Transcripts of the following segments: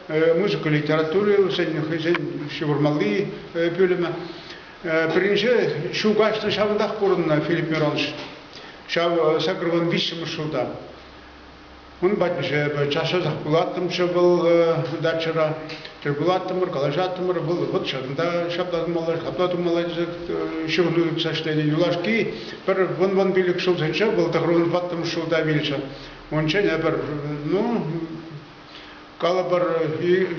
музыка литератури вӗсен хӑйсен ҫывӑрмалли пӳлӗмӗ. Пӗринче ҫу каҫнӑ ҫавӑнтах пурӑннӑ Филипп Миронович. Ҫав сакӑрвӑн виҫҫӗмӗш шута. Ун патне час-часах кулаттӑмччӗ вӑл дачӑра. Тӗл пулаттӑмӑр, калаҫаттӑмӑр. Вӑл вӑт ҫакӑнта ҫапла тумалла, ҫапла тумалла тесе ҫыхӑну тытса ӗҫленӗ. Юлашки пӗр вун-вун пилӗк ҫулсенче вӑл тӑхӑрвӑн ваттӑмӗш шута вилчӗ. Унччен эпир, ну, Калӑпӑр,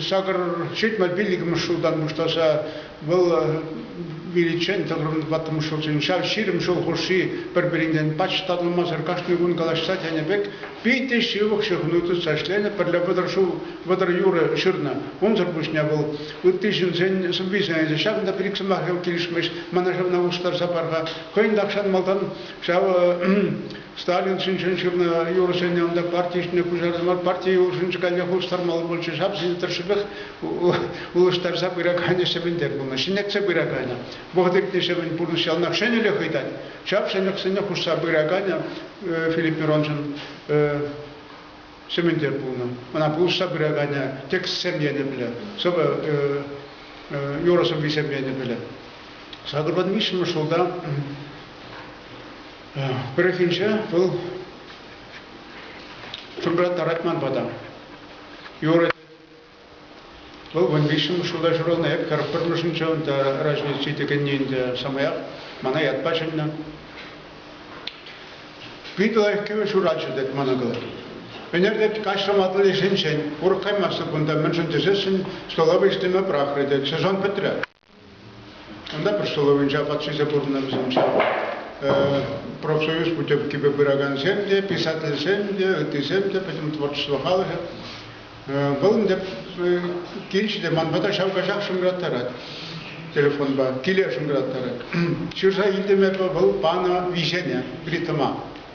сакӑр ҫитмӗл пиллӗкмӗш ҫултан пуҫласа вӑл виличчен тӑхӑрӑн ваттӑмӗш ҫулсен ҫав ҫирӗм ҫул хушши пӗр-пӗринтен пач татӑлмасӑр кашни кун калаҫса тенӗ пек питӗ ҫывӑх ҫыхӑну тытса ӗҫленӗ, пӗрле вӑтӑр ҫул вӑтӑр юрӑ ҫырнӑ. Унсӑр пуҫне вӑл ытти ҫынсен сӑввисене те ҫавӑн пек ик сӑмахӗ килӗшмест, мана ҫавна улӑштарса пар-ха. Хӑйӗн тахҫан малтан ҫав Сталин ҫинчен ҫырнӑ юрӑсене ӑнта парти ҫине куҫарнӑ парти юрӑсенче каллех улӑштармалла пулчӗ. Ҫапсен тӑршшӗпех улӑштарса пыраканӗ сӗвӗнтер пулнӑ, ҫӗнетсе пыраканӗ. Вӑхӑт иртнӗ сӗвӗн пурнӑҫ яланах ҫӗнӗлӗх ыйтать. Ҫав ҫӗнӗлӗхсене хушса пыраканӗ Филипп Мироншӑн сӗвӗнтер пулнӑ. Ӑна пулӑшса пыраканӗ текстсем енӗпле, сӑвӑ юрӑ сӑввисем енӗпле. Сакӑрпа виҫҫӗмӗш ҫулта Пӗррехинче вӑл тӑрать ман пата. Юрать. Вӑл вун виҫҫӗмӗш ҫулта ҫуралнӑ. Эп хӗр пӗрмӗшӗнче унта раҫне ҫитекенни ӗнтӗ самаях мана ятпа чӗннӗ. Питӗ лайӑх кӗвӗ ҫуратчӗ, тет ман ӑкӑл. Ӗнер тет каҫрӑм атли ӗҫӗнчен. Урӑх каймастӑп кунта, мӗншӗн тесессӗн стола вӗҫлеме пӑрахрӗ тет. Сезон пӗтрӗ. Ӑнтапӑр столовӑйӗнче апат ҫисе пурӑннӑ вӗсенче. Профсоюз путевкипе пыракансем те, писательсем те, ыттисем те пӗтӗм творчество халӑхӗ. Вӑл ӗнтӗ килчӗ те ман пата ҫав каҫах шӑнкӑраттарать телефонпа, киле шӑнкӑраттарать. Ҫырса илтӗм эпӗ вӑл панӑ виҫене, плитӑма.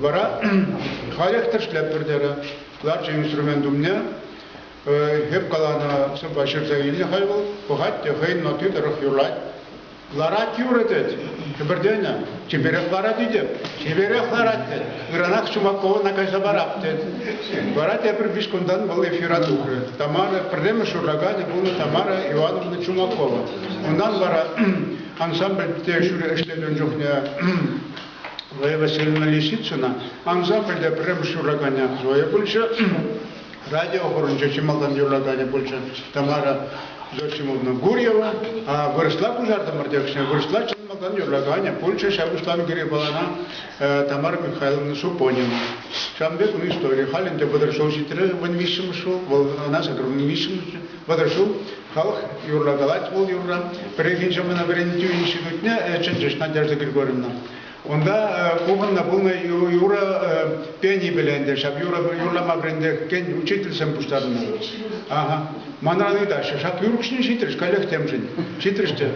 Вара халех тӗрӗслетпӗр терӗ. Ларчӗ инструмент умне. Эп каланӑ сӑвва ҫырса илнӗ хай вӑл. Пӑхать те хӑйӗн натти тӑрӑх юрлать. Ларать юрӑ тет. Кӗпӗртенӗ. Чиперех ларать тет. Чиперех ларать тет. Ыранах Чумакова кайса парап тет. Вара тепӗр виҫ кунтан вӑл эфира тухрӗ. Тамара пӗрремӗш ураганӗ пулнӑ Тамара Ивановна Чумакова. Унтан вара ансамбльте ӗҫлекен чухне Лейла Сергеевна Лисицына ансамбль те пӗрремӗш юрлаканӗ Зоя пулчӗ, радиохорӑнчо чи малтан юрлаканӗ пулчӗ Тамара Зосимовна Гурьева. Вырӑсла куҫартӑмӑр текстне, вырӑсла чи малтан юрлаканӗ пулчӗ ҫав пуҫланӑ Геребалана Тамара Михайловна Супонин. Ҫавӑн пек ун историйӗ. Халь ӗнтӗ вӑтӑр ҫул ҫитрӗ, вӑн виҫҫӗмӗш ҫул, вӑл ӑна саккӑрмӗн виҫҫӗмӗш вӑтӑр ҫул Халӑх юрла калать вӑл юрра. Пӗррехинче мана вӗрентӳ институтне чӗнчӗҫ Надежда Григорьевна. Унта пухӑннӑ пулнӑ юрӑ пенипеле ӗнтӗ ҫав юрӑ юрлама вӗрентекен учительсем пуҫтарӑннӑ. Ага. Манран ыйтаҫҫӗ, ҫак юрӑкҫин ҫитрӗҫ, каллех темшӗн. Ҫитрӗҫ те.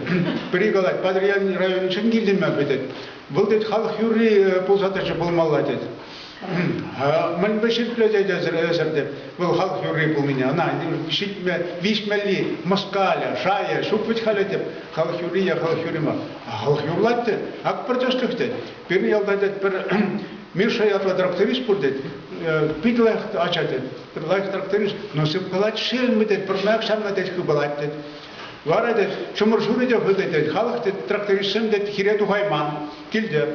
Пӗри калать, Патӑрьел районӗнчен килтӗм эпӗ, тет. Вӑл, тет, халӑх юрри пулса тӑчӗ пулмалла, тет. Мӗнпе ҫирӗплетет эсӗр вӑл халӑх юрри пулнине? Ӑна ҫитме, виҫмелли, мӑскалӗ, шайӗ, ҫук вӗт халӗ теп. Халӑх юрри е халӑх юрри мар. А халӑх юрлать те, ак пӗр тӗслӗх тет. Пирӗн ялта тет пӗр Миша ятлӑ тракторист пур тет. Питӗ лайӑх ача тет. Пӗр лайӑх тракторист. Но сыпкалать шелмӗ тет, пӗрмак ҫанна тет хыпалать тет. Вара тет, чӑмӑр шурӗ те хытӑ тет, халӑх тет, трактористсем тет, хире тухайман, килте.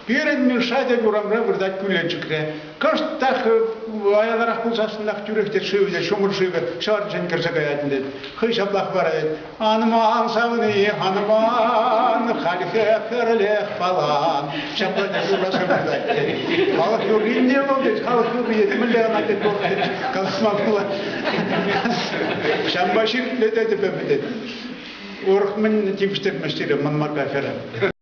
Пирӗн Миша тек урамра выртать кӳленчӗкре. Кӑшт та аяларах пулсассӑнах тӳрех те шывне ҫумӑр шывӗ ҫӑршӑн кӗрсе каятӑн тет. Хӑй ҫаплах вара тет, анман савни, анман, хальхи хӗрлех палан. Ҫапла тек ураса выртать тет. Халӑх юрринне вӑл тет, халӑх юрри мӗнле ӑна тет вӑл тет, калаҫма пула. Ҫанпа ҫыртле тетӗп эпӗ тет. Урӑх мӗн тивӗҫтермест сире мӑн марка хӗрӗ.